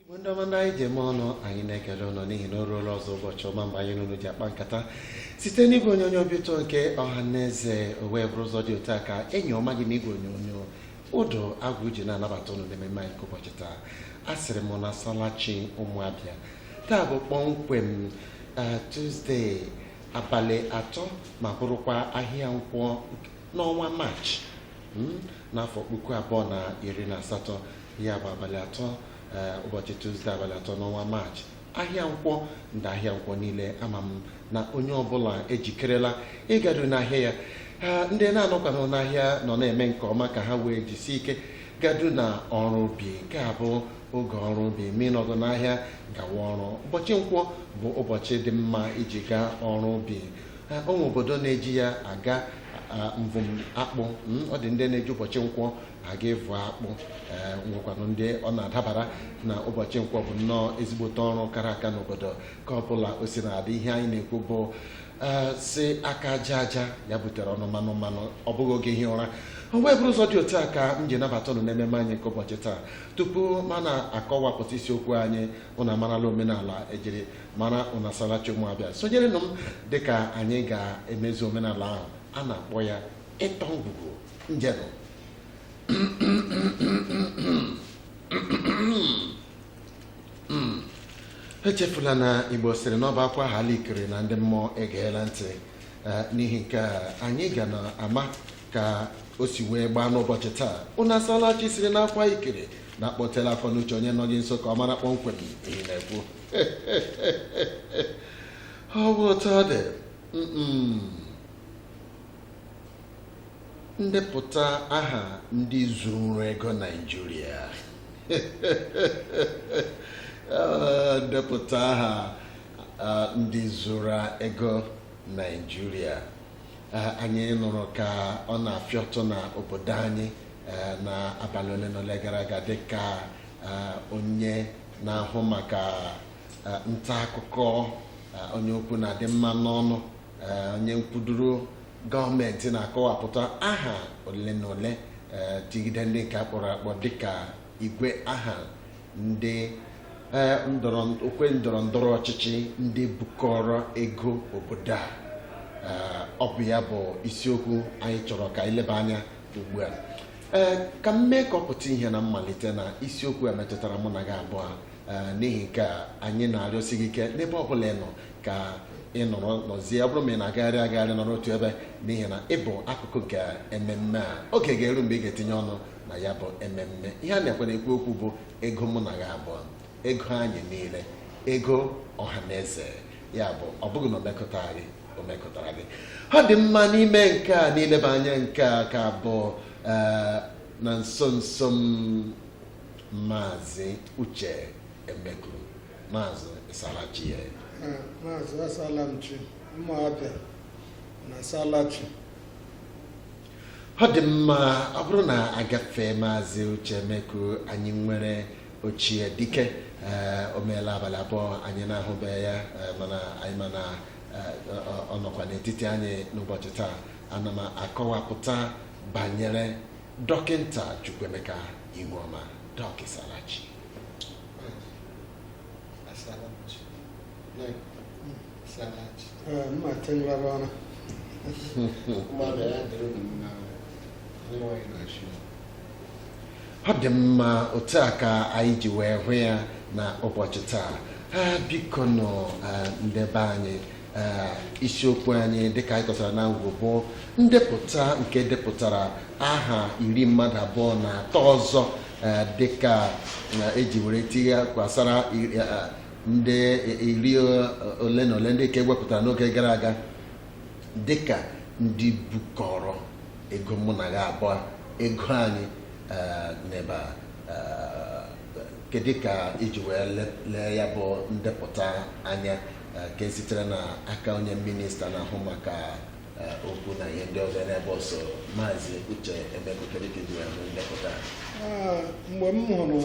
igbo ndị ọma ndị anyị ji eme ọnụ anyị na-ekele ụnụ n'ihi na o ruola ọzọ ụbọchị ọma mgbe anyị na ụnụ ji akpa nkata site n'igwe onyonyo obi ụtọ nke ọha na eze o wee bụrụ ụzọ dị otu a ka enyi ọma gị n'igwe onyonyo ụdọ agwụ ji na-anabata ụnụ n'ememe anyị nke ụbọchị taa a sịrị m ụnụ asalachi ụmụabịa taa bụ kpọmkwem eh, Tuzdee abalị atọ ma bụrụkwa ahịa nkwọ n'ọnwa maachị mm, n'afọ puku abụọ na iri na asatọ ya bụ abalị atọ eh, ụbọchị Tuzdee abalị atọ n'ọnwa maachị ahịa nkwọ ndị ahịa nkwọ niile ama m na onye ọbụla ejikerela ịgado n'ahịa ya ah, ndị na-anọkwanụ n'ahịa nọ na-eme nke ọma ka ha wee jisie ike gado na ọrụ ubi nke a bụ oge ọrụ ubi ma ị nọghị n'ahịa gawa ọrụ ụbọchị nkwọ bụ ụbọchị dị mma iji gaa ọrụ ubi o nwe obodo na-eji ya aga mvụm akpụ hmm, ọ dị ndị na-eji ụbọchị nkwọ aga ịvụ akpụ eh, nwekwanụ ndị ọ na-adabara na ụbọchị nkwọ bụ nnọọ ezigbote ọrụ kara aka n'obodo ka ọ bụla o si na-adị ihe anyị na-ekwu bụ ee sị aka aja aja ya butere ọnụ mmanụ mmanụ ọ bụghị oge ihi ụra o wee bụrụ ụzọ dị otu a ka m ji nabata ụnụ n'ememe anyị nke ụbọchị taa tupu mụ na-akọwapụta isiokwu anyị ụnụ amarala omenala ejiri mara ụnụ asalachi ụmụabịa sonyerenụ m dịka anyị ga-emezu omenala ahụ a na-akpọ ya ịtọ ngwugwu njenụ hmm. echefula na igbo sịrị na ọ bụ a kwahala ikiri na ndị mmụọ egeela ntị eh, n'ihi nke a anyị ga na-ama ka o si wee gbaa n'ụbọchị taa ụnụ asala chi sịrị na a kwaa ikiri na a kpọtela akọ na uche onye nọ gị nso ka ọ mara kpọmkwem ihe ị na-ekwu ọ bụ otu ọ dị ndepụta aha ndị zuru ego Naịjirịa ah, ndepụta aha ah, ndị zuru ego Naịjirịa ah, anyị nụrụ ka ọ na-afịọtụ na obodo anyị eh, na abalị ole na ole gara aga dịka onye na-ahụ maka nta akụkọ onye okwu na-adị mma n'ọnụ Eh, onye nkwuduru gọọmenti na-akọwapụta aha ole na ole eh, tigide ndị nke akpọrọ akpọ dịka igwe aha ndị eh, okwe ndọrọ ndọrọ ọchịchị ndị bukọrọ ego obodo a Eh, ọ bụ ya bụ isiokwu anyị chọrọ ka anyị leba anya ugbu a ee ka m mee ka ọ pụta ihe na mmalite na isiokwu a metụtara mụ na gị abụọ Eh, n'ihi nke a anyị na-arịọsi gị ike n'ebe ọ bụla ị nọ ka ị nọrọ nọzie ọ bụrụ ma ị na-agagharị agagharị nọrọ otu ebe n'ihi na ị bụ akụkụ nke ememme a oge ga-eru mgbe ị ga-etinye ọnụ na ya bụ ememme ihe a na-ekwe na-ekwu okwu bụ ego mụ na gị abụọ ego anyị niile ego ọha na eze ya bụ ọ bụghị na o mekụta gị o mekụtara gị ọ dị mma n'ime nke a n'ileba anya nke a ka bụ eh, na nso nso m Maazị Uche Emeku Maazị ị saala chi ya eh, Maazị asaala m chi Ụmụ Abịa unu asaala chi ọ dị mma ọ bụrụ na a gafee Maazị Uche Emeku anyị nwere ochie dike eh, o meela abalị abụọ anyị na-ahụbeghị ya eh, mana anyị ma na ọ nọkwa n'etiti anyị n'ụbọchị taa ana m akọwapụta banyere Dọkịnta Chukwuemeka Ihuoma Dọk ị saala chi ọ dị mma otu a ka anyị ji wee hụ ya na ụbọchị taa biko nọ ndebe anyị isiokwu anyị dịka anyị kọtara na mbụ bụ ndepụta nke depụtara aha iri mmadụ abụọ na atọ ọzọ dịka eji were tinyekwasara ndị iri ole na ole ndị nke e wepụtara n'oge gara aga dịka ndị bukọrọ ego mụ na gị abụọ ego anyị eh, n'ebe eh, kedu ka i ji wee lee ya bụ ndepụta anya eh, nke sitere na aka onye minista na-ahụ maka eh, okwu na ihe ndị ọzọ n'ebe ọsọ maazị uche emeku kedu ka i ji hụ ya bụ ndepụta a. Ah, mgbe m hụrụ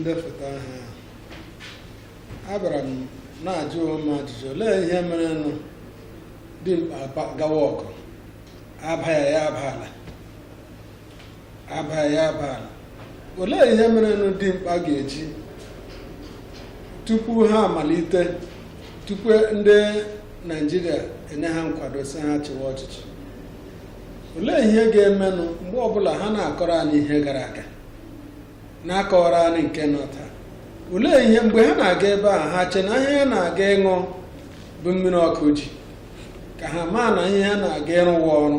ndepụta ahụ a, abịara m na-ajụ onwe m ajụjụ olee ihe merenụ dimkpa aba- gawa ọgụ aba ya ya aba ala aba ya aba ala olee ihe merenụ dimkpa ga-eji tupu ha amalite tupu ndị naijiria enye ha nkwado sị ha chịwa ọchịchị olee ihe ga-emenụ mgbe ọbụla ha na-akọrọ anyị ihe gara aga na-akọrọ anyị nke nọ taa olee ihe mgbe ha na-aga ebe a ha che na ihe ha na-aga ịṅụ bụ mmiri ọkụ ji ka ha maa na ihe ha na-aga ịrụ wụ ọrụ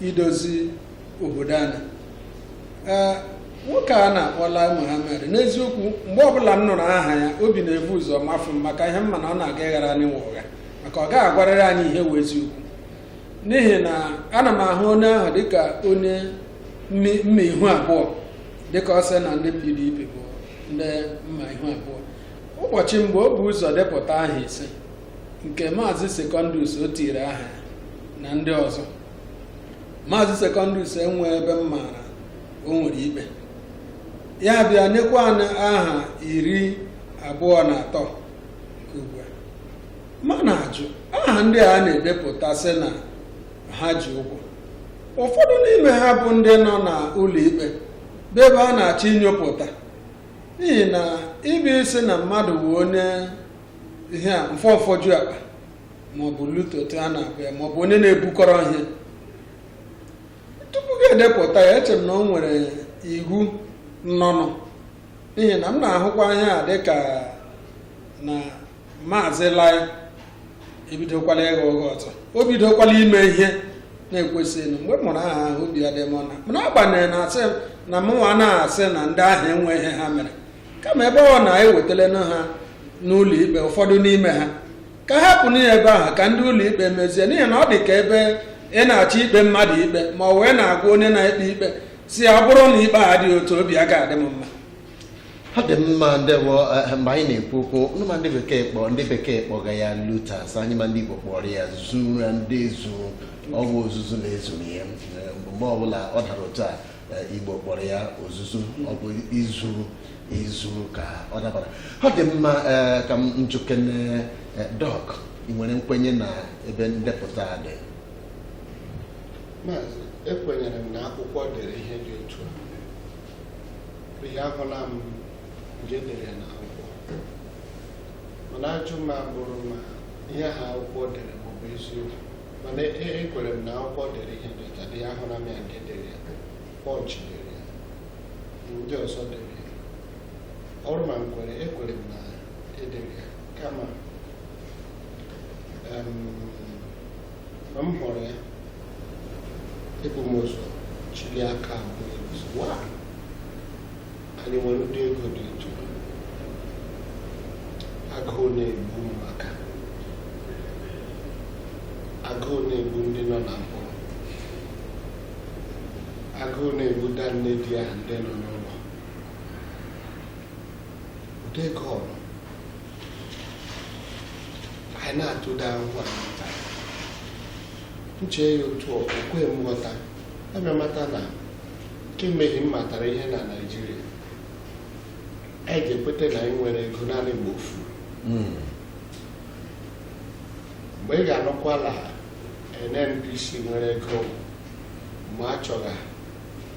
idozi obodo anyị nwoke a na-akpọ Lai Mohammed n'eziokwu mgbe ọbụla m nụrụ aha ya obi na-ebu ụzọ mafụ m maka ihe m ma na ọ na-aga ịghara anyị nwa ụgha maka ọ gaghị agwarịrị anyị ihe wụ eziokwu n'ihi na ana m ahụ onye ahụ dịka onye mma ihu abụọ dịka ọ sị na ndị PDP bụ ndị mma ihu abụọ ụbọchị mgbe o bu ụzọ depụta aha ise nke maazị Secondus o tiri aha na ndị ọzọ maazị Secondus enweghị ebe m maara o nwere ikpe ya bịa nyekwa anyị aha iri abụọ na atọ nke ugbu a m na-ajụ aha ndị a na-edepụta sị na ha ji ụgwọ ụfọdụ n'ime ha bụ ndị nọ n'ụlọ ikpe bụ ebe a na-achọ inyopụta n'ihi na ịbịa ịsị na mmadụ bụ onye ihe a mfọ mfọju akpa maọbụ looter otu a na-akpọ ya maọbụ onye na-ebukọrọ ihe tupu gị edepụta ya eche m na o nwere iwu nọnụ n'ihi na m na-ahụkwa ihe a dịka na maazị Lai ebidokwala ịgha ụgha ọzọ o bidokwala ime ihe na-ekwesịghị mgbe m nụrụ aha ahụ obi adịghị m mma mana agbanyeghị na asị m na mụnwa na-asị na ndị ahụ enweghị ihe ha mere kama ebe ọ bụ na ewetala ha n'ụlọ ikpe ụfọdụ n'ime ha ka a hapụnụ ya ebe ahụ ka ndị ụlọ ikpe mezie n'ihi na ọ dị ka ebe ị na-achọ ikpe mmadụ ikpe ma ọ wee na-agwa onye na-ekpe ikpe sị ya ọ bụrụ na ikpe a dị otu a obi ga-adị m mma ọ dị mma ndewo eh, mgbe anyị na-ekwu okwu ma ndị bekee kpọga ya looters anyị ma ndị igbo kpọrọ ya zura ndị zuru ọ wụ ozuzu na-ezuru ya eh, mgbe ọbụla ọ dara otu a eh, Igbo kpọrọ ya ozuzu ọ bụ izuru izuru ka ọ dabara ọ dị mma eh, ka m jụkene eh, Doc ị nwere nkwenye na ebe ndepụta a dị Maazị, ekwenyere m na akwụkwọ dere ihe dị otu a n'ihi ahụla m ndị dere ya n'akwụkwọ mana ajụ m abụrụ ma ihe ahụ akwụkwọ dere ma ọ bụ eziokwu mana ekwere m na akwụkwọ dere ihe dị otu a dị ya ahụla m ya nke dere ya Punch dere ya ndị ọzọ dere ya ọ bụrụ ma nkwere ekwere m na edere ya kama ma m hụrụ ya ebu m ụzọ chịlie aka abụọ anyị nwere ụdị ego dị otu agụụ na-egbu maka agụụ na-egbu ndị nọ na mkpọrọ agụụ na-egbu da nne di ya ndị nọ n'ụlọ ụdị ego ọrụ anyị na-atụda ahụhụ a nta nche ya otu o kwe m ghọta abịa mata na kemgbe m matara ihe na Naịjirịa anyị ga-ekweta na anyị nwere ego naanị mgbe o furu mgbe ị ga-anụkwala NNPC nwere ego ma a chọga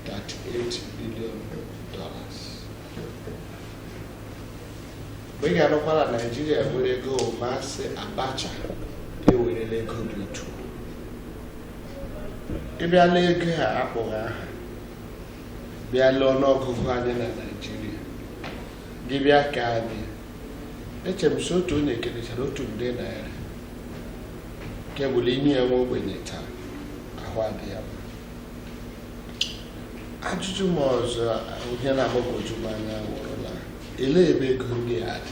38 billion dollars mgbe ị ga-anụkwala Naịjirịa nwere ego ma a sị Abacha ewerela ego dị otu ị bịala ego a akpọghị aha bịala ọnụọgụgụ anyị na Naịjirịa gị bịa ka anyị eche m sị otu onye kelechara otu nde naira kebụla inye ya nwa ogbenye taa ahụ adị ya mma ajụjụ m ọzọ ihe na-agbagwoju m anya wụrụla elee ebe ego ndị a dị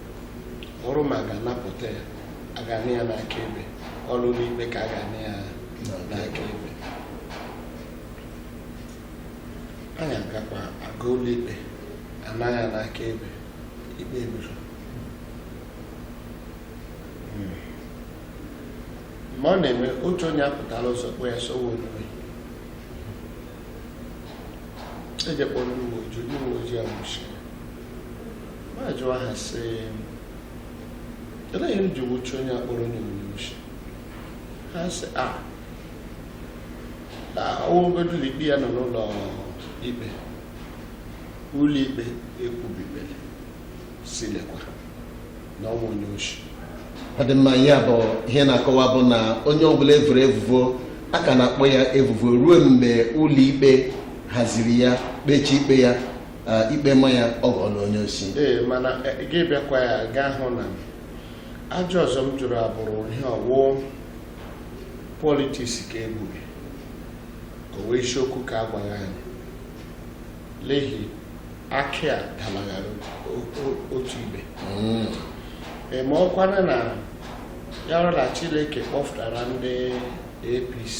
wụrụ ma a ga-anapụta ya a ga-ana ya n'aka ebe ọwụ ụlọ ikpe ka a ga-ana ya n'aka ebe anyị agakwa aga ụlọ ikpe ana ya n'aka ebe ikpe ebiro ma ọ na-eme otu onye apụtala ụzọ kpọ ya sowe onwe eje kpọọ ndị uwe ojii ndị uwe ojii anwụchiri ma jụọ ha sị elee ihe e ji nwụchi onye akpọrọ onye onye oshi ha sị a ọwụgodu ikpe ya nọ n'ụlọ ikpe ụlọ ikpe ekwubibere sị lekwa na ọnwa onye oshi ọ dị mma ya bụ ihe na-akọwa bụ na onye ọbụla evuru evuvo a ka na-akpọ ya evuvo ruo mgbe ụlọ ikpe haziri ya kpechie ikpe ya ikpe ma ya ọ ghọọla onye oshi ee mana e, gị bịakwa ya ga-ahụ na ajụjụ ọzọ m jụrụ abụrụ ihe ọwụ politiks ka egburu ka ọwụ isiokwu ka agwaghị anyị elee ihe akị a dalaghara otu ibe hmm. e, ma ọkwana na ya rụla Chineke kpọfụtara ndị APC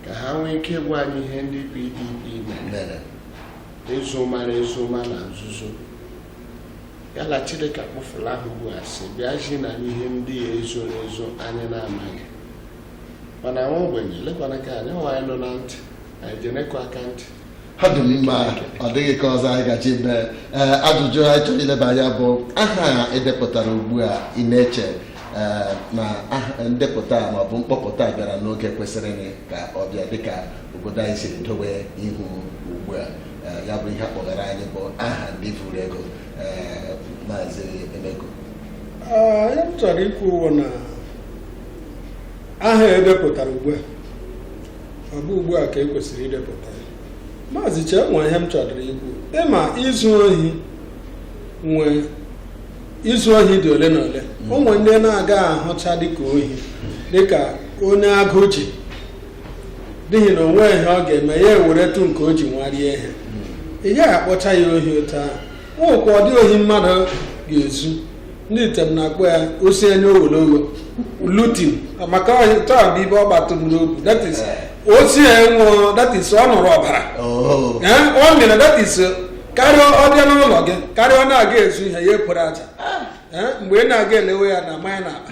ka ha nwee ike ịgwa anyị ihe ndị PDP mere ezo mara ezo ma na nzuzo yala Chineke akpụfula ahụ ugbu a sị bịazi na ihe ndị ya ezoro ezo anyị na-amaghị mana nwa ogbenye lekwana ka anyị nwa anyị nọ na ntị anyị jenekwa aka ntị ọ dị mma ọ dịghị ka ọzọ anyị gaji mee ee ajụjụ anyị chọrọ ileba anya bụ aha a edepụtara ugbu a ị na-eche ee, na aha- ndepụta a maọbụ mkpọpụta a bịara n'oge kwesịrị ka ọ bịa dịka obodo anyị siri dowe ihu ugbu a Ee, ya bụ ihe akpọgara anyị bụ aha ndị vuru ego ee, maazị emego Ee, ihe m chọrọ ikwu wụ na aha edepụtara ugbu a ọ bụ ugbu a ka e kwesịrị idepụta ya maazị Uche onwe ihe m chọdụrụ ikwu ịma izu ohi nwe izu ohi dị ole na ole hmm. onwe ndị na-aga ahụcha dịka ohi dịka onye agụụ ji n'ihi na onwe ihe ọ ga-eme ya eweretụ nke o ji nwa rie ihe hmm. ị gaghị akpọcha ya ohi otu ahụ nwekwa ụdị ohi mmadụ ga-ezu ndị Item na-akpọ ya osi anya ogologo looting maka taa bụ ibe ọ gbatụrụ n'obi that is osi ya nwụọ that is ọ nụrụ ọbara Oh. Ee, ọ mere that is karịa ọ bịa n'ụlọ gị karịa ọ na-aga ezu ihe ya ekporo aja Ee, mgbe ị na-aga elewe ya na manya na akpa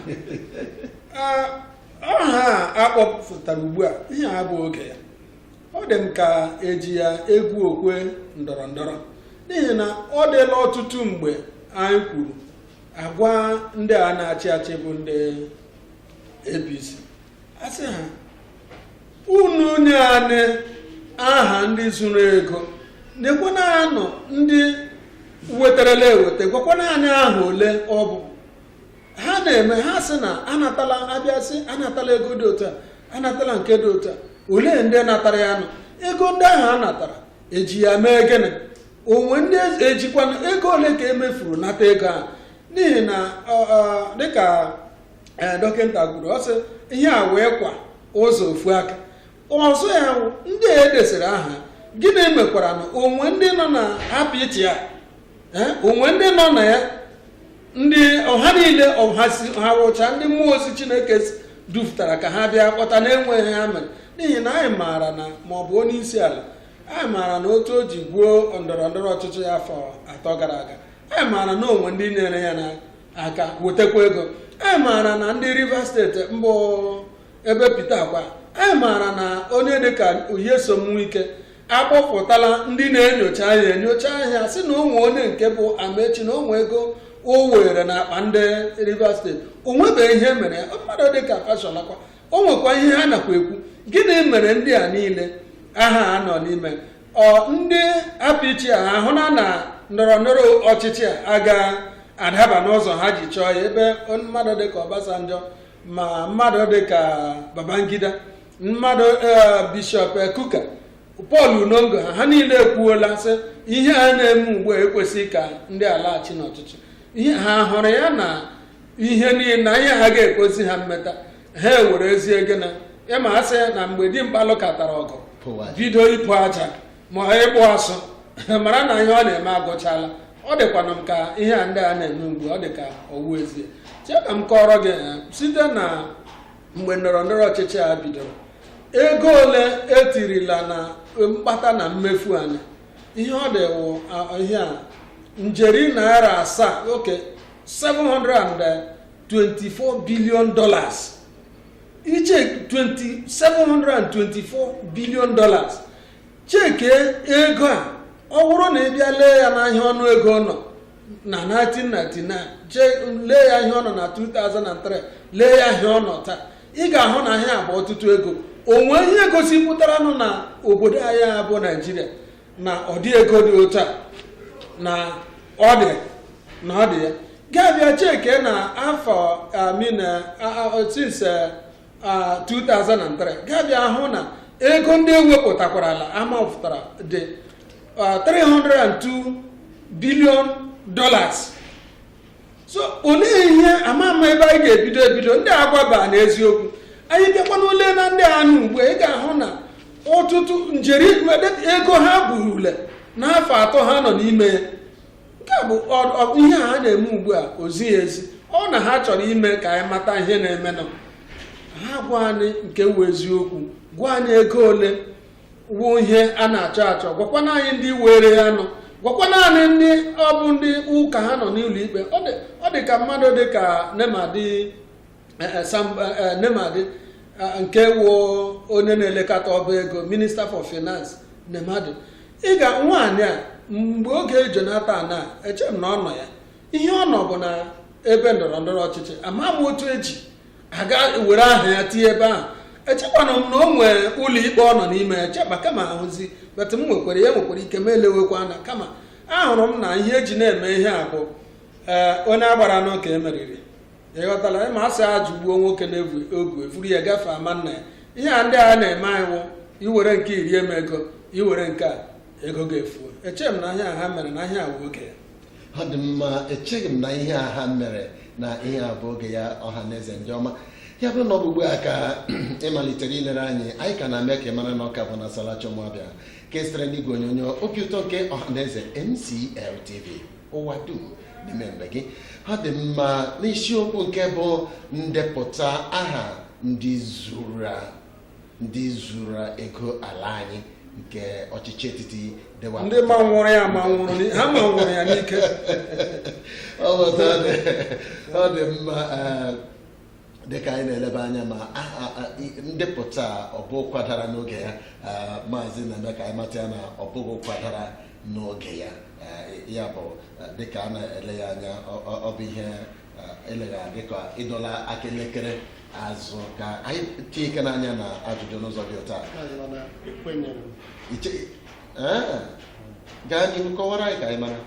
Ee, aha a akpọpụtara ugbu a ihe a bụ oge ya ọ dị m ka eji ya egwu okwe ndọrọ ndọrọ n'ihi na ọ dịla ọtụtụ mgbe anyị kwuru agwa ndị a na-achị achị bụ ndị APC asị ha unu nye anyị aha ndị zuru ego nyekwana anyị ndị wetarala eweta gwakwana anyị aha ole ọ bụ ha na-eme ha sị na anatala abịa sị anatala ego dị otu a anatala nke dị otu a olee ndị natara ya nọ ego ndị ahụ a natara eji ya mee gịnị onwe ndị ejikwana ego ole ka emefuru nata ego ahụ n'ihi na dịka e, dọkịta kwuru ọ sị ihe a wụkwa ụzọ ofu aka ọzọ ya wụ ndị a edesịrị aha gịnị mekwara na onwe ndị nọ na party ya eh, onwe ndị nọ na ya ndị ahụ niile ha wụcha ndị mmụọ ozi chineke dupụtara ka ha bịa kpọta na-enweghị ha mere n'ihi na anyị maara na ma ọ bụ onye isi ala anyị maara na otu o ji gwuo ndọrọ ndọrọ ọchịchị ya afọ atọ gara aga anyị maara na onwe ndị nyere ya n'aka wetakwa ego anyị maara na ndị Rivers State mbụ ebe Pita kwa anyị maara na onye dịka Nyesom Wike akpọpụtala ndị na-enyocha ahịa enyocha ahịa sị na o nwe onye nke bụ Amaechi na o nwe ego o were na akpa ndị Rivers steeti o nwebeghị ihe mere ya mmadụ dịka Fasholakwa o nwekwa ihe ha nakwa ekwu gịnị mere ndị a niile aha a nọ n'ime ọ ndị APC a ahụ na na ndọrọ ndọrọ ọchịchị a aga adaba n'ụzọ ha ji chọọ ya ebe mmadụ dịka Obasanjo ma mmadụ dị ka Babangida mmadụ e, bishọp Kuka Pọl Unongo ha ha niile ekwuola sị ihe a na-eme ugbu a ekwesịghị ka ndị alaghachi n'ọchịchị ihe ha hụrụ ya na ihe niile na ihe ha ga-ekwesị ha mmeta ha ewere ezi ego na ịma a sị na mgbe dimkpa lụkatara ọgụ bido ịpụ aja ma ịgbụ asụ mara na ihe ọ na-eme agụchala ọ dịkwana m ka ihe a ndị a na-eme ugbu ọ dị ka ọ wụ ezie chee ka m kọọrọ gị eh, site na mgbe ndọrọ ndọrọ ọchịchị a bidoro ego ole etirila na mkpata na mmefu anyị ihe ọ dị wụ ihe a njeri narị asaa okay 724 billion dollars iche 724 billion dollars cheke ego a ọ bụrụ na ị bịa lee ya n'ahịa ọnụ ego ọ nọ na 1999 jee lee ya ihe ọ nọ na 2003 lee ya ihe ọ nọ taa ị ga-ahụ na ihe a bụ ọtụtụ ego o nwe ihe gosipụtaranụ na obodo anyị a bụ Naịjirịa na ụdị ego dị otu a na ọ dị na ọ dị ya ga-abịa cheke na afọ I mean since 2003 ga-abịa hụ na ego ndị e wepụtakwarala a mapụtara dị 302 billion dollars so olee ihe ama ama ebe anyị ga-ebido ebido ndị a gwaba anyị eziokwu anyị bịakwanụ lee na ndị a nọ ugbu ị ga-ahụ na ọtụtụ njeri ego ha burule n'afọ atọ ha nọ n'ime ya nke a bụ ihe ha na-eme ugbu a o zighị ezi ọ na ha chọrọ ime ka anyị mata ihe na-emenụ ha gwa anyị nke wụ eziokwu gwa anyị ego ole wụ ihe a na-achọ achọ gwakwana anyị ndị were ya nụ gwakwana anyị ndị ọ bụ ndị ụka ha nọ n'ụlọ ikpe ọ dị ka mmadụ dị ka Nemadi eh, eh, Sam eh, Nemadi nke wụ onye na-elekọta ọba ego minister for finance Nemadi ị ga nwaanyị a mgbe oge Jonathan na eche m na ọ nọ ya ihe ọ nọ bụ na ebe ndọrọ ndọrọ ọchịchị ama m otu e ji aga were aha ya tinye ebe ahụ echekwana m na o nwere ụlọ ikpe ọ nọ n'ime ya cheba kama ahụzi but m nwekwara ya nwekwara ike m elewekwa anya kama ahụrụ m na ihe e ji na-eme ihe a bụ eh, onye a gbara n'oke e meriri ị ghọtala ịma asị a jụgbuo nwoke na-evu ogu evuru ya gafee ama nna ya ihe a ndị a na-eme anyị wụ iwere nke iri eme ego iwere nke a ego ga-efu echeghị m na ihe a ha mere na ihe a bụ oge ya ọ dị mma echeghị m na ihe a ha mere na ihe a bụ oge ya ọha na eze ndị ọma ya bụrụ na ọ bụ ugbu a ka ị malitere ilere anyị anyị ka na-eme ka ị mara na ọ ka bụ na Salachi Ụmụabịa ka e sitere n'igwe onyonyo obi ụtọ nke ọha na eze MCL TV ụwa dum n'ime be gị ọ dị mma n'isiokwu nke bụ ndepụta aha ndị zuru ndị zuru ego ala anyị nke ọchịchị etiti dịwa ndị manwụrụ ya manwụrụ ni- ha manwụrụ ya n'ike ọ bụ otu ọ dị- ọ dị mma eh, dịka anyị na-eleba anya ma aha ah, i- ndepụta a, ọ bụ ụkwa dara n'oge ya ah, maazị na-eme ka anyị mata ya na ọ bụghị ụkwa dara n'oge ya ya bụ dịka a na-ele ya anya ọ bụ ihe eleghị adị ka ịdọla aka elekere azụ ka anyị tinye ike n'anya na ajụjụ n'ụzọ dị ụta gaa n'ihu kọwara anyị ka anyị mara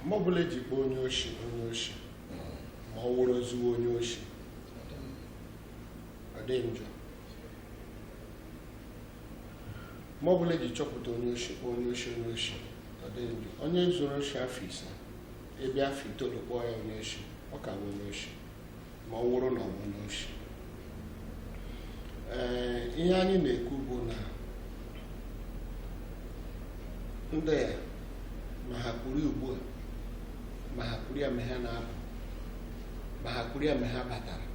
mgbe ọbụla e ji kpọọ onye oshi onye oshi ma ọ wụrụ ezigbo onye oshi ọ dịghị njọ mgbe ọ bụla e ji chọpụta onye oshi kpọọ onye oshi onye oshi ọ dịghị njọ onye zuru oshi afọ ise a bịa afọ itoolu kpọọ ya onye oshi ọ ka bụ onye oshi ma ọ wụrụ na ọ bụ onye oshi ee ihe anyị na-ekwu bụ na ndị a ma ha kwuru ya ugbu a ma ha kwuru ya mgbe ha na-apụ ma ha kwuru ya mgbe ha batara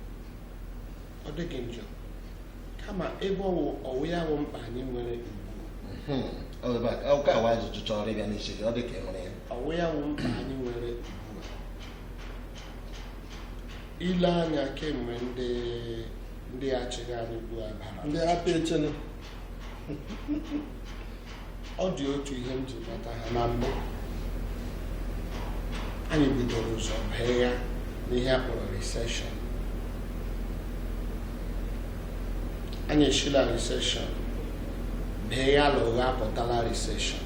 ọ dịghị njọ kama ebe ọ wụ ọ wụ ya wụ mkpa anyị nwere hmm, ọka awa ajụjụ chọrọ ịbịa n'isi gị ọ dị ka e nwere ya ọ wụ ya wụ mkpa anyị nwere ugbu a ile anya kemgbe ndị ndị achịgha anyị ugbu a bara ndị apịa echene ọ dị otu ihe m ji mata ha na mbụ anyị bidoro ụzọ bee ya n'ihe a kpọrọ recession anyị eshi la recession bee ya la ụgha apụtala recession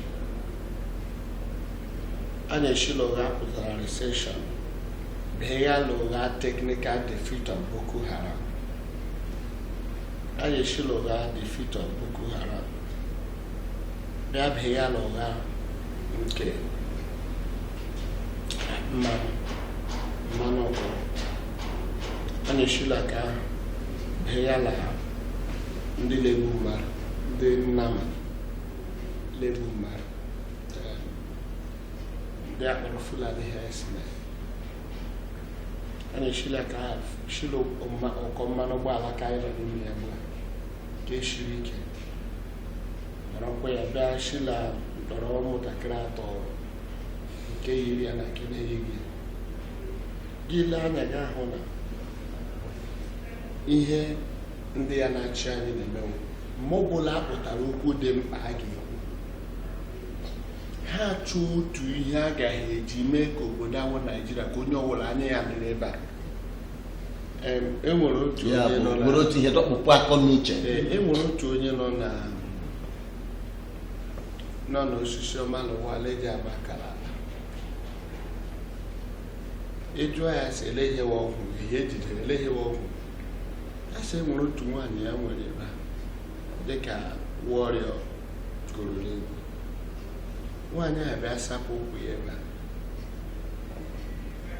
anyị eshi la ụgha apụtala recession bee ya la ụgha technical defeat of Boko Haram anyị eshi la ụgha defeat of Boko Haram bịa bee ya la ụgha nke mmanụ mmanụ ụgbọ anyị esi la nke ahụ bee ya la ndị la-egbu mmadụ ndị nnama la-egbu mmadụ ndị a kpọrọ Fulani herdsmen anyị eshila ka shila ụkọ mmanụ ụgbọala ka anyị nọ n'ime ya gbaa ka eshiri ike nọrọkwa ya bịa shila mkpọrọ ụmụntakịrị atọ nke yiri ya na nke na-eyighị ya gị lee anya gị ahụ na ihe ndị ya na-achị anyị na-eme wụ mgbe ọ bụla a pụtara okwu dị mkpa a ga-ekwu ha achọọ otu ihe a gaghị eji mee ka obodo a wụ Naijiria ka onye ọbụla anya ya dị n'ebe a enwere otu onye nọ na otu ihe dọkpụpụ akọ n'uche enwere otu onye nọ na nọ n'Osisioma na ụwa leji agba akara ala ị jụọ ya sị eleghịwa ọgwụ ihe ejidere eleghịwa ọgwụ a sị enwere otu nwaanyị ya nwere ebe a dịka Warrior gụrụ l'egwu nwaanyị a bịa sapụ ụkwụ ya ebe a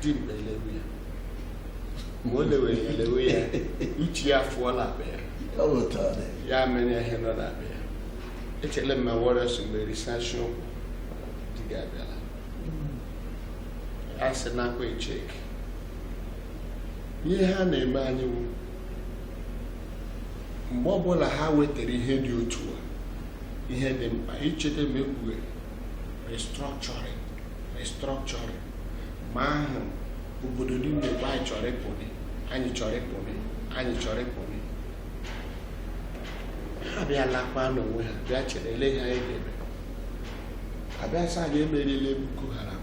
dimkpa elewe ya mgbe o lewere ya lewe ya uche ya fụọ na akpa ya ya mere ihe nọ na akpa ya echele m ma Warrior sị Mgberi sashie ụkwụ di gị abịala a sị nakwa echeki ihe ha na-eme anyị wụ mgbe ọbụla ha wetara ihe dị otu a ihe dị mkpa ị cheta ma e kwuwe restructuring restructuring ma ahụ obodo niile bụ anyị chọrọ ịpụnị anyị chọrọ ịpụnị anyị chọrọ ịpụnị ha bịa lakwa n'onwe ha bịa chere ele ihe anyị ga-eme a bịa sị anyị emeriela Boko Haram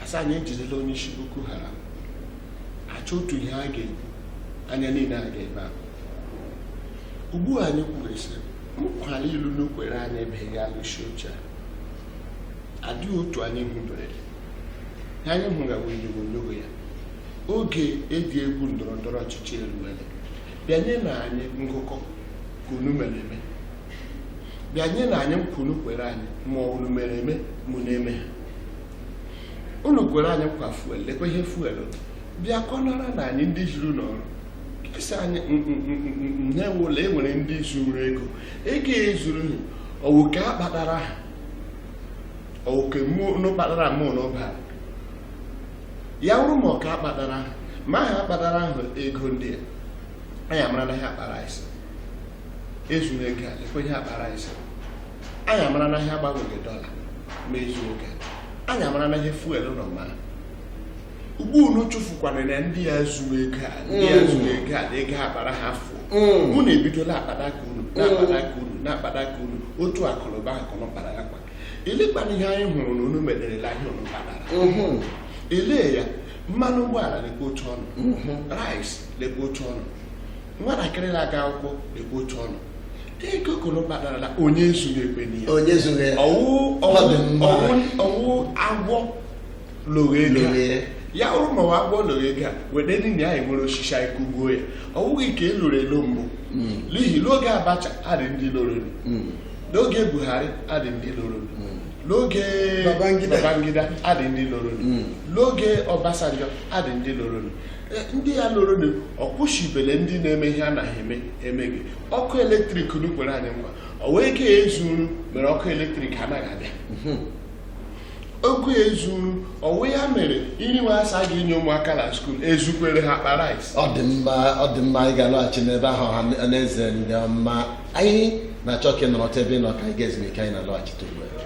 a sị anyị ejidela onye isi Boko Haram a chọọ otu ihe a ga-ekwu anya niile agaa ebe ahụ ugbu a anyị kwuresịrị nkwa liile unu kwere anyị ebeghị alụsi oche a adịghị otu anyị hụberede anyị hụra onyogonyoo ya oge eji egwu ndọrọ ndọrọ ọchịchị eruwele bịa nyenụ anyị ngụkọ ka unu mere eme bịa nyenụ anyị nkwa unu kwere anyị ma unu mere eme ma unu emeghị unu kwere anyị nkwa fuel lekwa ihe fuel bịa kọnara na anyị ndị jiri n'ọrụ sị anyị na-enwela e nwere ndị zuru ego ego e zuru ọ wụ ke a kpatara ha ọ wụ ke mụnụ kpatara mụ na ọbara ya wụrụ ma ọka akpatara ha ma ha akpatara ahụ ego ndị a anyị amara na ha akpa rice e zuru ego a lekwa ihe akpa rice anyị amara na ha agbanweghị dọla ma e zuru ego anyị amara na ihe fuel nọ ma ugbu unu chefukwana na ndị ya zuru ego a ndị ya zuru ego a na ego akpara ha fụ unu ebidola akpata ka unu na-akpata ka unu na-akpata ka unu otu akụnụba akụnụ kpara ya kwa elekwana ihe anyị hụrụ na unu mererela ihe unu kpatara ele ya mmanụ ụgbọala lekwa otu ọnụ rice lekwa otu ọnụ nwatakịrị na-aga akwụkwọ lekwa otu ọnụ ego ka unu kpatarala onye zuru ekwe n'ihe onye zuru ya ọwụ ọwụ ọwụ agwọ loro ya wụrụ ma ọ wụ agwọ loro ego a wede niile anyị were osisi anyị kụgbuo ya ọ bụghị ka e loro elo mbụ hmm. n'ihi n'oge abacha adị ndị loro hmm. n'oge buhari adị ndị loro hmm. n'oge babangida adị ndị loro n'oge obasanjo adị ndị loro Eh, ndị ya loronụ ọ kwụsịbele ndị na-eme ihe anaghị eme eme gị ọkụ eletrik unu kwere anyị nkwa ọ wụ ego ezuru mere ọkụ eletrik anaghị abịa mhm. oku ezuru ọ wụ ya mere iri nwe a sị a ga-enye ụmụaka na skuul ezukwere ha akpa rice ọ dị mma anyị ga-alọghachi n'ebe ahụ ọha na eze ndị ọma anyị na-achọ ka ị nọrọtụ ebe ị nọ ka anyị gaa ezumike anyị na-alọghachite ugbu a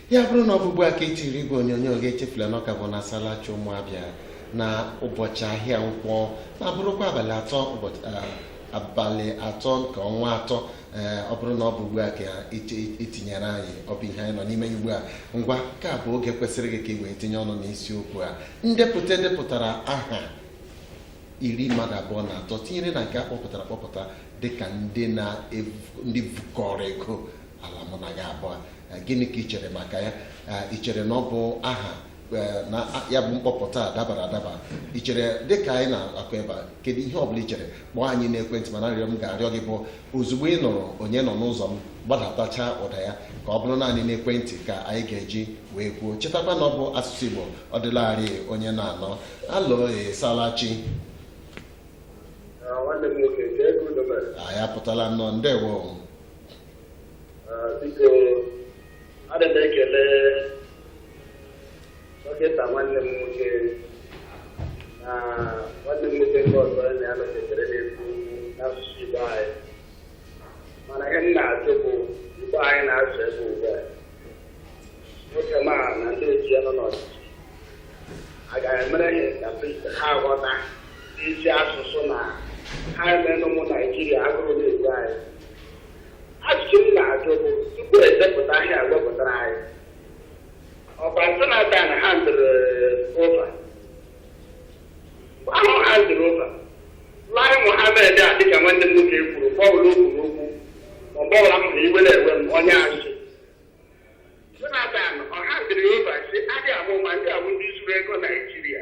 ya bụrụ na ọ bụ ugbu a ka i tiri igwe onyonyo gị echefula na ọ ka bụ na salachi ụmụ Abịa na ụbọchị ahịa nkwọ na-abụrụkwa abalị atọ abalị atọ nke ọnwa atọ ọ bụrụ na ọ bụ ugbu a ka i tinyere anyị ọ bụ ihe anyị nọ n'ime ya ugbu a ngwa ka bụ oge kwesịrị gị ka ị wee tinye ọnụ n'isiokwu a ndepụta e depụtara aha iri mmadụ abụọ na atọ tinyere na nke a kpọpụtara akpọpụta dịka ndị na ndị vukọrọ ego ala mụ na gị abụọ eh, gịnị ka ị chere maka ya Eh, ị chere na ọ bụ aha eh, na a- ya bụ mkpọpụta a dabara adaba ị chere dịka anyị na-akọ ebe a kedu ihe ọ bụla ị chere kpọọ anyị n'ekwentị mana arịrịọ m ga-arịọ gị bụ ozugbo ị nụrụ onye nọ n'ụzọ m gbadatacha ụda ya ka ọ bụrụ naanị n'ekwentị ka anyị ga-eji wee kwuo chetakwa na ọ bụ asụsụ igbo ọ dịlarị onye na-anọ alo ị salachi anyị apụtala nnọọ ndewo biko adị m ekele dọkịta nwanne m nwoke na nwanne m nwoke nke ọzọ na ya nọketere na-ekwu n'asụsụ Igbo anyị mana ihe m na-ajụ bụ Igbo anyị na-asụ ebe ugbu a nwoke ma na ndị otu ya nọ n'ọchịchị a ga-emere ya ka ha ghọta isi asụsụ na ha emenụ ụmụ Naijiria agụrụ na-egbu anyị ajụjụ m na-ajụ bụ tupu edepụta ihe a wepụtara anyị ọkwa jonathan handịrị over ahụ handịrị over lai mohamed a dịka nwanne m nwoke kwuru bọọlụ okwu n'okwu ma bọọlụ ahụ na iwe na-ewe m onye asị jonathan ọ handịrị over sị lai mohamed ndị a wụ ndị zuru ego naijiria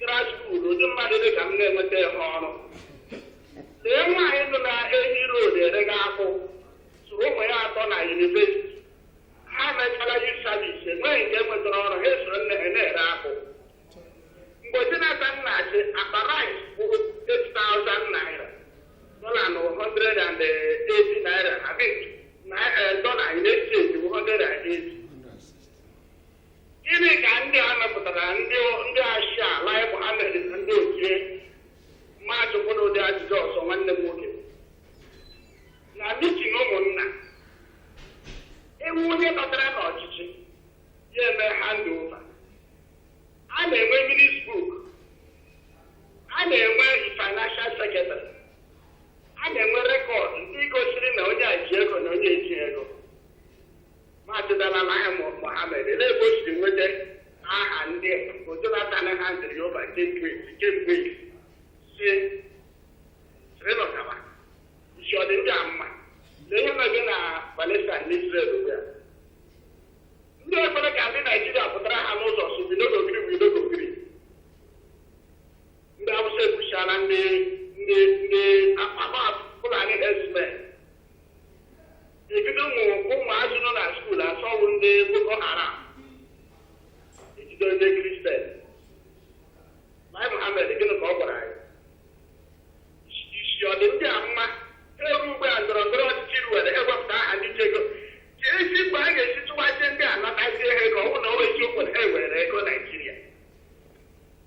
grassroot ụdị mmadụ dị ka m na-enwetaghị ọrụ lee nwaanyị nọ na ehi road erega akwụ zụrụ ụmụ ya atọ na yunivesiti ha mechara youth service enweghị nke nwetara ọrụ ha esoro nne ha na-ere akwụ mgbe jonathan na-achị akpa rice bụ 8000 naira dọla na 180 naira na bit na dọla na-eji eji 180 Gịnị ka ndị a mepụtara ndị ndị asị a lai mohammed na ndị ochie ma ajụkwuo ụdị ajụjụ ọzọ nwanne m nwoke na meeting ụmụnna ewu onye batara n'ọchịchị ya eme hand over a na-enwe minutes book a na-enwe financial secretary a na-enwe rekọd ndị gosiri na onye a ji ego na onye eji ego Maazị Lai Mohammed olee ebe o siri nweta aha ndị bụ Jonathan handịrị over kemgbe si Srinọkaba isi ọ dị ndị a mma lee ihe na-eme na Palestine na Israel ugbu a ndị ekwere ka ndị Naijiria pụtara ha n'ụzọ si bido n'ogiri bido n'ogiri ndị Awụsa egbuchaala ndị ndị ndị akpama Fulani herdsmen ejido ụmụ ụmụazị nọ na skuul a sị ọ wụ ndị boko haram ejido ndị kristian lai mohammed gịnị ka ọ gwara anyị isi ọ dị ndị a mma eruo ugbu a ndọrọ ndọrọ ọchịchị ruwere ewepụta aha ndị ji ego keezi mgbe a ga-esi tụwazie ndị a natazie ha ego ọ bụ na ọ bụ eziokwu na ha were ego naijiria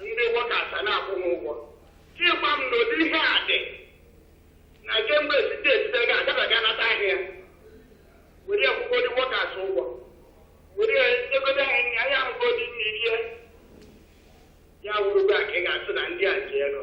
ndị workers a na-akwụ m ụgwọ chekwa m n'ụdị ihe a dị na kemgbe state state ga agaba ga anata ihe a were akwụkwa ndị workers ụgwọ were egodo anyị anyị ahụgo dị n'ihe ya wụrụgo a ka ị ga-asị na ndị a ji ego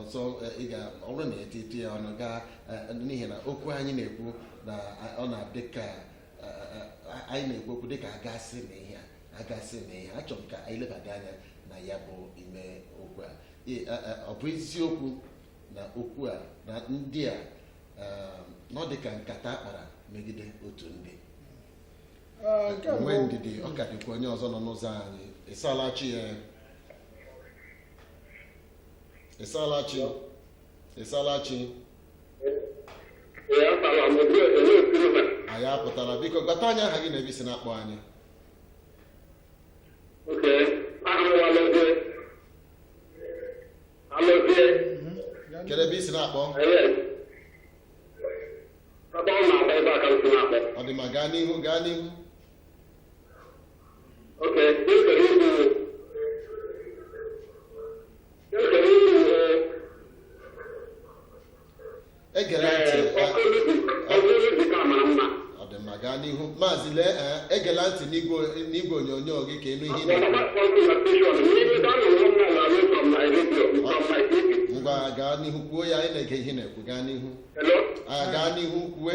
ọzọ ị ga ọ bụrụ na eti eti ya ọnụ gaa n'ihi na okwu anyị na-ekwu na ọ na-adị ka anyị na-ekwu okwu dịka agasị na ihe agasị na ihe achọrọ m ka anyị lebada anya na ya bụ ime okwu a ọ bụ eziokwu na okwu a na ndị a na ọ dị ka nkata a kpara megide otu ndị nwee ndidi ọ ka dịkwa onye ọzọ nọ n'ụzọ anyị ịsalachi ya ị saala chi ị saala chi anyị apụtala biko gwata anyị aha gị na ebe i si na-akpọ anyị kedu ebe i si na-akpọ ọ dị mma gaa n'ihu gaa n'ihu egere ntị ọ dị mma gaa n'ihu maazị lee eh, egela ntị n'igwe onyonyo gị ka ị nụ ihe ị na-ekwu. ngwa gaa n'ihu kwuo ya anyị na-ege ihe ị na-ekwu gaa n'ihu Ah, gaa n'ihu kwue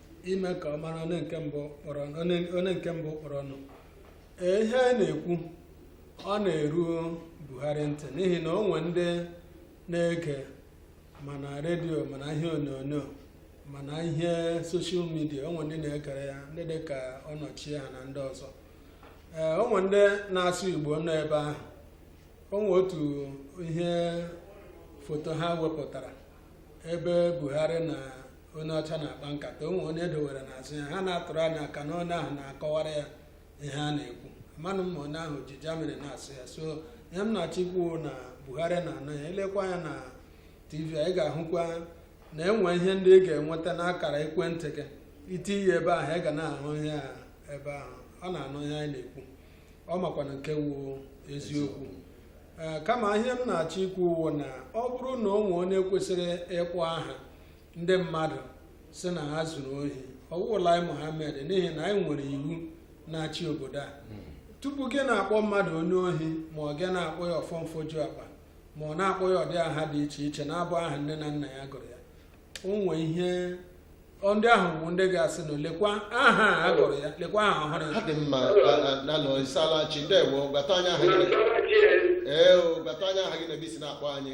ime ka ọ mara onye nke mbụ kpọrọnụ ee ihe a na-ekwu ọ na-eru Buhari ntị n'ihi na o nwe ndị na-ege ma na redio ma na ihe onyonyo ma na ihe soshal midia o nwe ndị na-egere ya ndị dị ka Onochie ha na ndị ọzọ ee o nwe ndị na-asụ Igbo nọ ebe ahụ o nwe otu ihe foto ha wepụtara ebe Buhari na onye ọcha na-akpa nkata o nwe onye e dowere n'azụ ya ha na-atụrụ anya ka na onye ahụ na-akọwara ya ihe a na-ekwu amanụ m ma onye ahụ ji German na-asụ ya so ihe m na-achọ ikwu na buhari na-anụ ya i lekwa ya na tv anyị ga-ahụkwa na e nwe ihe ndị ị ga-enweta n'akara ekwentị gị i tinye ebe ahụ ị ga na-ahụ ihe a ebe ahụ ọ na-anụ ihe anyị na-ekwu ọ makwana nke wụ eziokwu ee kama ihe m na-achọ ikwu wụ na ọ bụrụ na o nwee onye kwesịrị ịkpọ aha ndị mmadụ sị na ha zuru ohi ọ wụghị Lai Mohammed n'ihi na anyị nwere iwu na-achị obodo a tupu gị na-akpọ mmadụ onye ohi ma ọ gị na-akpọ ya ọfọmfoju akpa ma ọ na-akpọ ya ụdị aha dị iche iche na-abụghị aha nne na nna ya gụrụ ya o nwee ihe ndị ahụ bụ ndị ga-asị na lekwa aha a gụrụ ya lekwa aha ọhụrụ ya ọ dị mma hello ị saala chi ndewo gwata anyị aha gị ee o gwata anyị aha gị na ebe i si na-akpọ anyị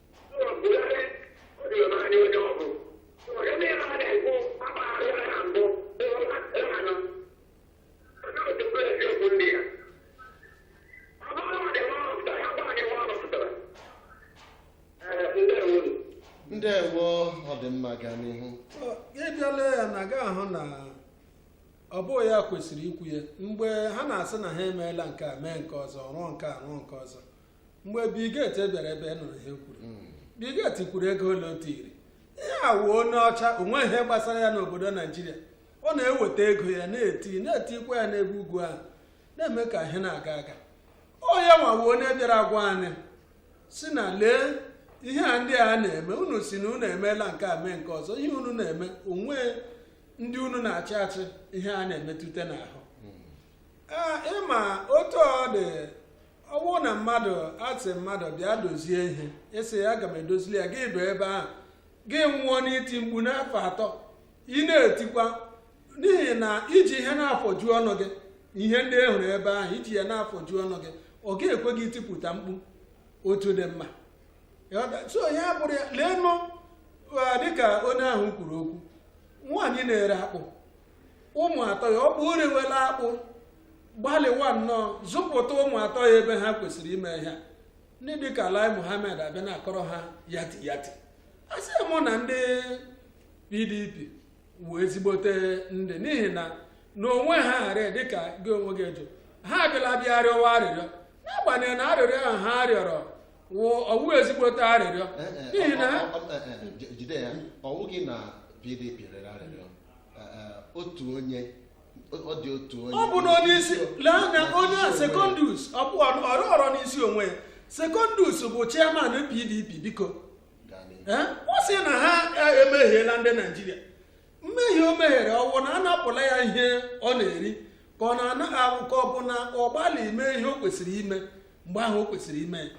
ndewo ọ dị mma gaa n'ihu ị bịa lee ya anya ị ga-ahụ na ọ bụghị ya kwesịrị ikwu ya mgbe ha na-asị na ha emeela nke a mee nke ọzọ rụọ nke a rụọ nke ọzọ mgbe Bill Gates bịara ebe a ị nụrụ ihe o kwuru hmm. Bill Gates kwuru ego ole o tiri ihe a wụ onye ọcha o nwe ihe gbasara ya n'obodo naijiria ọ na-eweta ego ya na-eti na-etikwa ya n'ebe ugwu ahụ na-eme ka ihe na-aga aga ọ ya nwa wụ onye bịara gwa anyị si na lee ihe a ndị a na-eme unu si na unu emeela nke a mee nke ọzọ ihe unu na-eme o nwe ndị unu na-achị achị ihe a na-emetụta n'ahụ hmm. ị ma otu ọ dị ọ wụ na mmadụ asị mmadụ bịa dozie ihe ị sị ya aga m edozili ya gị dụ ebe ahụ gị nwụọ n'iti mkpu n'afọ atọ ị na-etikwa n'ihi na i ji ihe na-afọju ọnụ gị ihe ndị ị hụrụ ebe ahụ i ji ya na-afọju ọnụ gị ọ ga-ekwe gị itipụta mkpu otu dị mma so ya bụrụ ya leenụ dịka onye ahụ kwuru okwu nwaanyị na-ere akpụ ụmụ atọ ya ọ bụ o rewela akpụ gbalịwa nnọọ zụpụta ụmụ atọ ya ebe ha kwesịrị ime ihe ndị dịka Lai Mohammed abịa na-akọrọ ha yati yati asị m na ndị PDP wụ ezigbote ndị n'ihi na n'onwe ha ghara dịka gị onwe gị jụ ha abịala bịa rịọwa arịrịọ n'agbanyeghị na arịrịọ ahụ ha rịọrọ ọ wụ ezigbote arịrịọ eh, eh, n'ihi na eh, jide ya ọ wụghị na PDP rịọrọ arịrịọ otu onye ọ bụ na onye isi lee anya onye Secondus ọ bụ ọ rịọrọ n'isi onwe ya Secondus bụ chairman PDP biko ọ sị na ha e, emehiela ndị naijiria mmehie o mehiere ọ wụ na a napụla ya ihe ọ na-eri ka ọ na-anaghị awụ ka ọ bụ na ọ gbalị ime ihe o kwesịrị ime mgbe ahụ o kwesịrị ime ya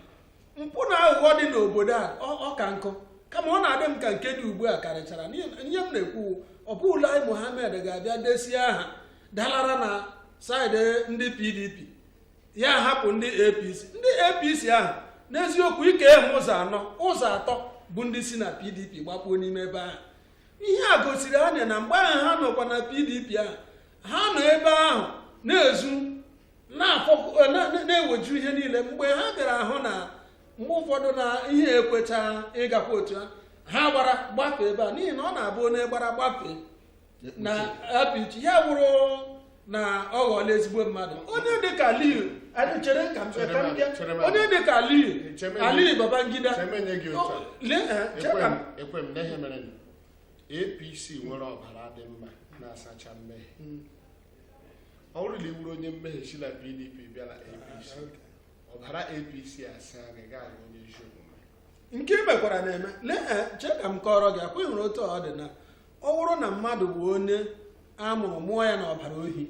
mpụ na aghụghọ dị n'obodo a ọ ka nkụ kama ọ na-adị m ka nke dị ugbu a karịchara ihe m na-ekwu ọ bụ Lai Mohammed ga-abịa desie aha dalara na saịdị ndị PDP ya hapụ ndị APC ndị APC ahụ n'eziokwu i kee ha ụzọ anọ ụzọ atọ bụ ndị si na PDP gbakpuo n'ime ebe ahụ ihe a gosiri anyị na mgbe ahụ ha nọkwa na PDP ahụ ha nọ ebe ahụ na-ezu na-eweju ihe niile mgbe ha bịara ahụ na mgbe ụfọdụ na ihe ekwecha ịgakwa otu a ha gbara gbafee ebe a n'ihi na ọ na-abụ onye gbara gbafee na APC ya wụrụ na ọ ghọọla ezigbo mmadụ onye dịka Aliyu chere ka onye dịka Aliyu Babangida APC nwere ọbara dị mma na-asacha mmehie hmm. ọ bụrụ na ị wụrụ onye mmehie si na pdp bịa na apc ọbara apc asaa gị gaa onye ezi omume nke i mekwara na-eme lee eh, chee ka m kọrọ gị akwa ị hụrụ otu ọ dị na ọ bụrụ na mmadụ bụ onye a mụrụ mụọ ya n'ọbara ohi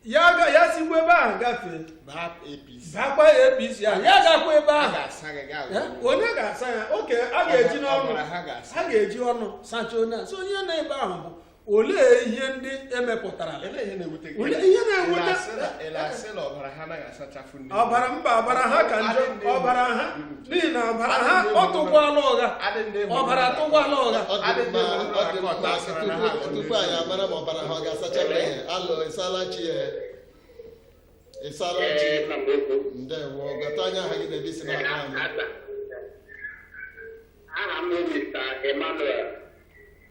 ya ga- ya sikwa ebe ahụ gafee baa apc bakwa apc ahụ ya gakwa ebe a ahụ ga-asa gị gaa Eh, onye ga-asa ya oke a ga-eji n'ọnụ Ọbara ha ga-asa. a ga-eji ọnụ sachaa onye a so onye n'ebe ahụ bụ olee ihe ndị emepụtara olee ihe na-ewute ọbara mba ọbara ha ka njọ ọbara ha n'ihi na ọbara ha ọ tụkwala ụgha ọbara tụkwala ụgha tupu anyị amara ma ọbara ha ọ ga-asacha alụ ịsala chi ya ịsala chi ndewo gwatụ anyị aha gị na ebe i si na-akpọ anyị aha m Mr. Emmanuel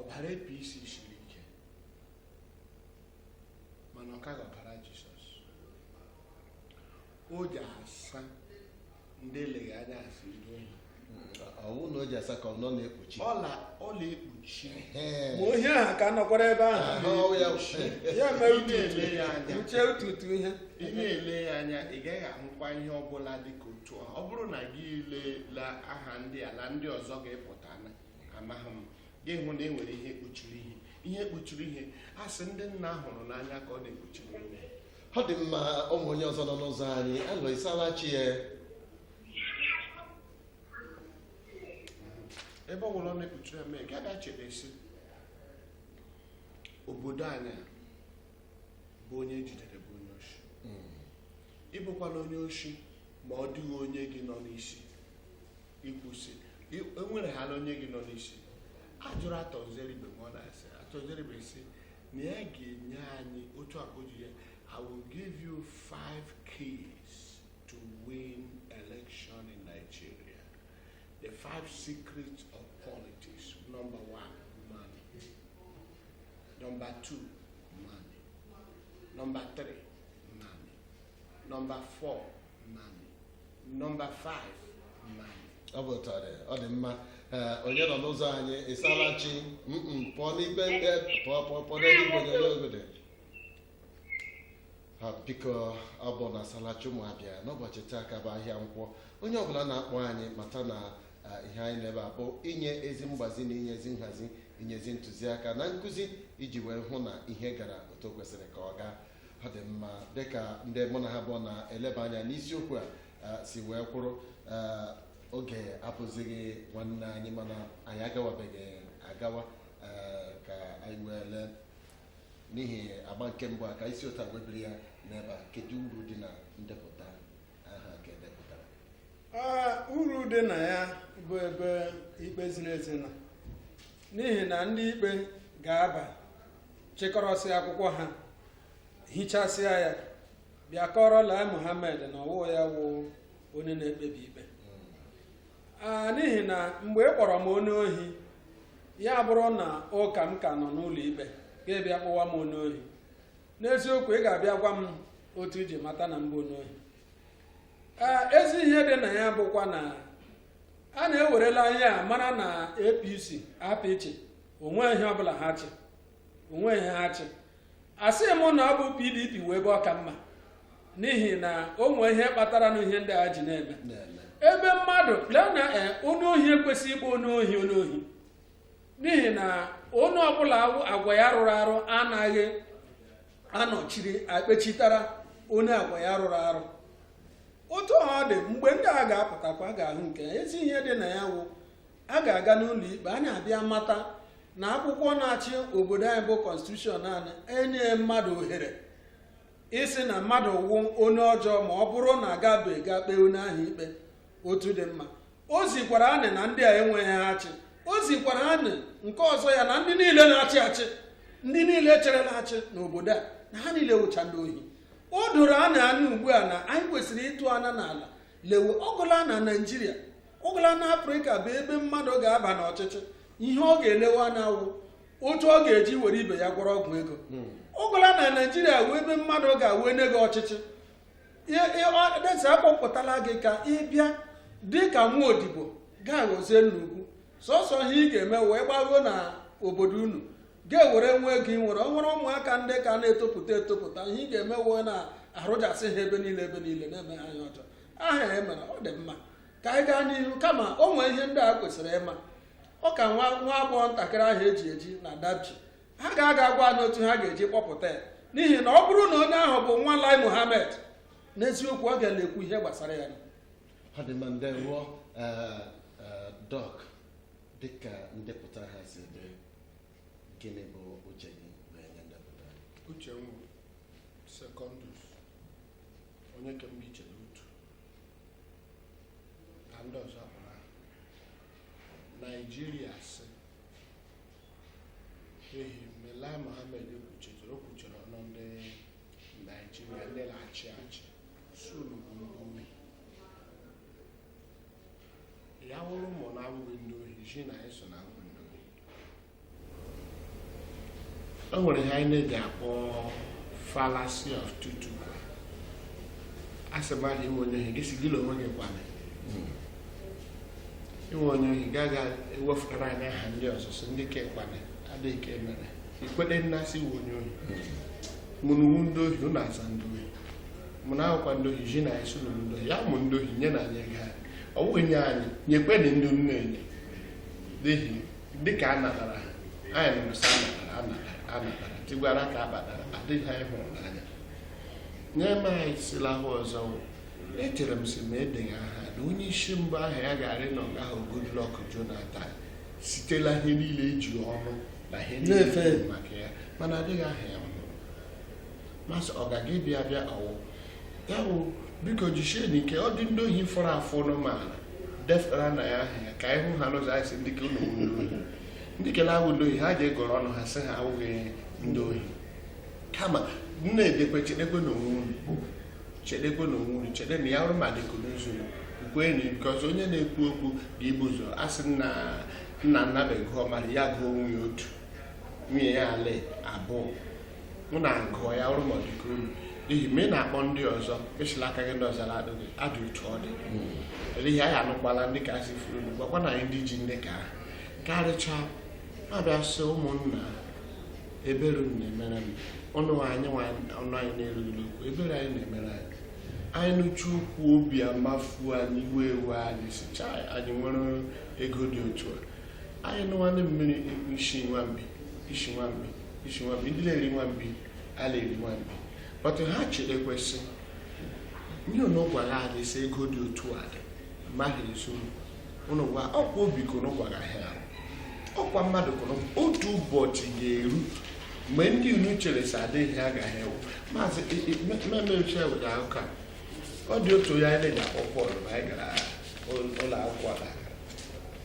ọbara APC siri ike mana ọ kaghị ọbara Jizọs o ji asa ndị eleghị anya asị ndị ohi ọ wụ na o ji asa ka ọ nọ na-ekpuchi ọ la ọ la-ekpuchi Ee. ma ohi ahụ ka nọkwara ebe ahụ Ahụ ọ wụ ya bụ- ya mere Ị na-ele ya anya. ututu uche ututu ihe ị na-ele ya anya ị gaghị ahụkwa ihe ọbụla dị ka otu a ọ bụrụ na gị leela aha ndị ala ndị ọzọ ga-epụta amaghị m gị hụ na e nwere ihe kpuchiri ihe ihe kpuchiri ihe a sị ndị nna hụrụ n'anya ka ọ na-ekpuchiri ihe ọ dị mma ụmụ onye ọzọ nọ n'ụzọ anyị hello ịsala chi ya ebe ọ bụla ọ na-ekpuchiri eme gị abịa chebe sị obodo anyị a bụ onye e jidere bụ onye oshi ị bụkwa na onye oshi ma ọ dịghị onye gị nọ n'isi ikwusi enwere ha na onye gị nọ n'isi a jụrụ Arthur Nzeribe ma ọ na-asị Arthur Nzeribe sị na ya ga-enye anyị otu akụ ji ya I will give you five keys to win election in Nigeria the five secrets of politics number one money number two money number three number 4 money number 5 money ọ bụ otu ọ dị ọ dị mma Ee, onye nọ n'ụzọ anyị ịsala chi Mm-mm, pụọ n'ibe ndị pụọ pụọ pụọ n'ebe igwe onyonyo ogodo ha biko ọ bụ na ịsala chi ụmụ Abịa n'ụbọchị taa ka bụ ahịa nkwọ onye ọbụla na-akpọ anyị mata na ah, ihe anyị n'ebe a bụ inye ezi mgbazi na inye ezi nhazi inye ezi ntụziaka na nkụzi iji wee hụ na ihe gara otu o kwesịrị ka ọ gaa ọ dị mma dịka ndị mụ na ha bụ na-eleba anya n'isiokwu a eh, si wee kwuru eh, oge abụzighị nwanne anyị mana anyị agawabeghị agawa eh, ka anyị wee lee n'ihi agba nke mbụ a ka isi ụta webiri ya n'ebe a kedu uru dị na ndepụta aha ka edepụtara Ee, uru dị na ya bụ ebe ikpe ziri ezi nọ n'ihi na ndị ikpe ga-aba chịkọrọsịa akwụkwọ ha hichasịa ya bịa kọọrọ Lai Mohammed na ọ wụ ya wụ onye na-ekpebi ikpe a n'ihi na mgbe ị kpọrọ m onye ohi ya bụrụ na ụka m ka nọ n'ụlọ ikpe gị abịa kpọwa m onye ohi n'eziokwu ị ga-abịa gwa m otu i ji mata na m bụ onye ohi ezi ihe dị na ya bụkwa na anyị ewerela ihe a mara na APC apịchị o nweghị ihe ọbụla ha chị o nweghị ihe ha chị asị m na ọ bụ pdp wụ ebe ọ ka mma n'ihi na o nwere ihe kpatara na ihe ndị a ji na-eme ebe mmadụ lee na eh, onye ohi ekwesịghị ịkpọ onye ohi onye ohi n'ihi na onye ọbụla agwa ya rụrụ arụ anaghị anọchiri ekpechitara onye agwa ya rụrụ arụ otu ọ dị mgbe ndị a ga-apụtakwa ga-ahụ nke ezi ihe dị na ya wụ a ga-aga n'ụlọ ikpe anyị abịa mata na akwụkwọ na-achị obodo anyị bụ kọnstitushọn anaghị enye mmadụ ohere ịsị na mmadụ wụ onye ọjọọ ma ọ bụrụ na agabeghị ga kpee onye ahụ ikpe otu dị mma o zikwara anyị na ndị a enweghị ihe ha chị o zikwara anyị nke ọzọ ya na ndị niile na-achị achị ndị niile chịrịla achị n'obodo a na ha niile wụcha ndị ohi o doro anyị anya ugbu a na anyị kwesịrị ịtụ anya n'ala lewe ọ ghọla na naijiria ọ ghọla na afrịka bụ ebe mmadụ ga-aba n'ọchịchị ihe ọ ga-elewe anya wụ otu ọ ga-eji were ibe ya gwọrọ ọgwụ ego hmm. ọ ghọla na naijiria wụ ebe mmadụ ga-ewe nye gị ọchịchị desi akpọpụtala gị ka ị bịa dị ka nwa odibo gị aghọzie nnukwu sọsọ ihe ị ga-eme wụ ịgbaruo na obodo unu gị ewere nwa ego i nwere o nwere ụmụaka ndị ka na-etopụta etopụta ihe ị ga-eme wee na-arụjasị ha ebe niile ebe niile na-eme ha anya ọjọọ aha ya e mere ọ dị mma ka anyị gaa n'ihu kama o nwee ihe ndị a kwesịrị ịma ọ ka nwa nwa agbọghọ ntakịrị ahụ e ji eji na dapchi ha ga-aga agwa anyị otu ha ga-eji kpọpụta ya n'ihi na ọ bụrụ na onye ahụ bụ nwa lai muhammed n'eziokwu ọ ga-ele ekwu ihe gbasara ya ọ dị mma ndewo dọk dịka ndepụta aha si dị gịnị bụ uche gị wee nye ndepụta uche secondus onye kemgbe iche n'otu ka ndị ọzọ kpọrọ aha naijiria sị ehi mgbe lai mohammed kwuchitere o kwuchiri ọnụ ndị naijiria ndị na-achị achị sị unu bụ ndị ohi ya wụrụ ma unu wụ ndị ohi ji na anyị sị unu wụ ndị ohi o nwere ihe anyị na-eji akpọ fallacy of tu quoque a sị mmadụ ị wụ onye ohi gị sị gị na onwe gị kwana ị wụ onye ohi gị aga ewefụtara anyị aha ndị ọzọ sị ndị ka ekwana adịghị ka emere ikwete na a sị ị wụ onye ohi ma ụnụ wụ ndị ohi ụnụ aza ndị ohi ma ụnụ awụkwa ndị ohi ji na anyị sị ụnụ wụ ndị ohi ya wụ ndị ohi nyenụ anyị ego anyị ọ bụghị nye anyị nyekwenị ndị nne enye n'ihi dịka a natara ha anyị nụ sị a natara tigwara ka a batara adịghị anyị hụrụ n'anya nye m anyị sila ha ọzọ echere m sị ma e dega aha na onye isi mbụ aha ya gaara ịnọ nga ahụ Goodluck Jonathan sitela ihe niile eji ọnụ na ihe niile maka ya mana edeghị aha ya m sị ọ gaga ịbịa bịa ọwụ ya bụ biko jisie n'ike ọ dị ndị ohi fọrọ afọ n'ụmụala defere anyị aha ya ka anyị hụ ha n'ụzọ anyị sị ndị kele wụ ndị ohi ndị kele awụ ndị ohi ha ga-agọrọ ọnụ ha sị ha awụghị ndị ohi kama na-edekwe chedekwe na onwe unu chede na ya ọrụ ma dịka n'ụzọ kwenu nke ọzọ onye na-ekwu okwu ga ibu ụzọ asị nna nnabe gụọ mara ya gụọ onwe ya otu nwunye ya ala abụọ unu agụọ ya ọrụ ma dịka unu n'ihi ma ị na-akpọ ndị ọzọ esila aka gị ndị ọzọ na-adụ gị adị otu ọ dị n'ihi anyị anụkwala ndị ka asị furu unu gwakwa na anyị ndị ji ndị ka karịchaa ma bịa sị ụmụnna ebere unu na-emere m ọnụ anyị na-erughị okwu ebere anyị na-emere anyị anyị nụcha okwu obi amafu anyị iwe ewe anyị sị chai anyị nwere ego dị otu a anyị nụwanụ mmiri isi nwambi ndị na-eri nwambi a na-eri nwambi bọtụ ha chere ekwesị ihe unu gwara anyị sị ego dị otu a dị maghị ezu unu gwa ọkwa obi ka unu gwara ha ọkwa mmadụ ka otu ụbọchị ga-eru mgbe ndị unu chere sị adịghị ha agaghị ewu maazị mmemmeche were aka ọ dị otu ya anyị na-akpọ Pọl na anyị gara ụlọ akwụkwọ na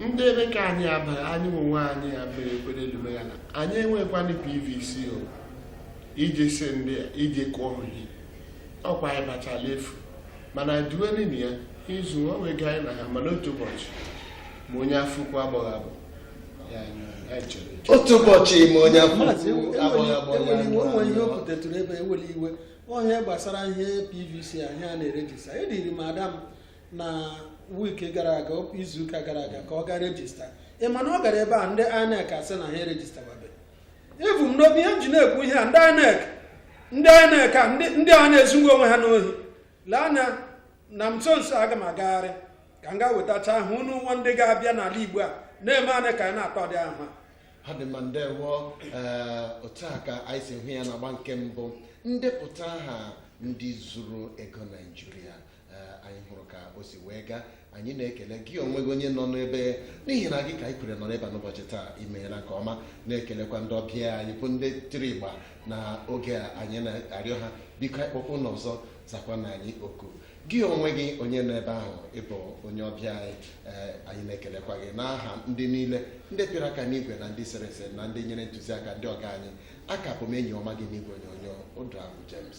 ndị INEC anyị abaghị anyị onwe anyị ya mere ekpere elume ya na anyị enwekwanị pvc o iji si ndị a iji kụọ ihe ọkwa anyị bachala efu mana duwenini ya izu onwe gị anyị na ha mana otu ụbọchị ma onye afụkwu agbọghọ abụ ya anyị chere eche. otu ụbọchị ma onye o nwere ihe o kwutetụrụ ebe ewere iwe ọhịa gbasara ihe pvc ahụ a na-erejista eduuru m ada m na wiiki gara aga izuụka gara aga ka ọ gaa rejista ị ma na ọ gara ebe a ndị INEC asị na ha erejistababe ebu m n'obi ihe m ji na-ekwu ihe a ndị INEC ndị INEC a ndị ndị a na-ezughị onwe ha n'ohi lee anya na m nso nso aga m agagharị ka m gaa wetacha aha unu nwa ndị ga-abịa n'ala Igbo a na-eme anyị ka anyị na-akpọdị aha ha dị mma ndewo ee otu a ka anyị si hụ ya n'agba nke mbụ ndepụta aha ndị zuru ego naijiria anyị hụrụ ka o si wee gaa anyị na-ekele gị onwe gị onye nọ n'ebe n'ihi na gị ka anyị kwere nọ n'ebe a n'ụbọchị taa imeela nke ọma na-ekelekwa ndị ọbịa anyị bụ ndị tiri ịgba n'oge a anyị na-arịọ ha biko anyị kpọkwa unu ọzọ zakwanụ anyị oku gị onwe gị onye nọ ebe ahụ ị bụ onye ọbịa anyị ee anyị na-ekelekwa gị n'aha ndị niile ndị pịara aka n'igwe na ndị sere ese na ndị nyere ntụziaka ndị ọga anyị a ka bụ m enyi ọma gị n'igwe onyonyo ụdụ ahụ James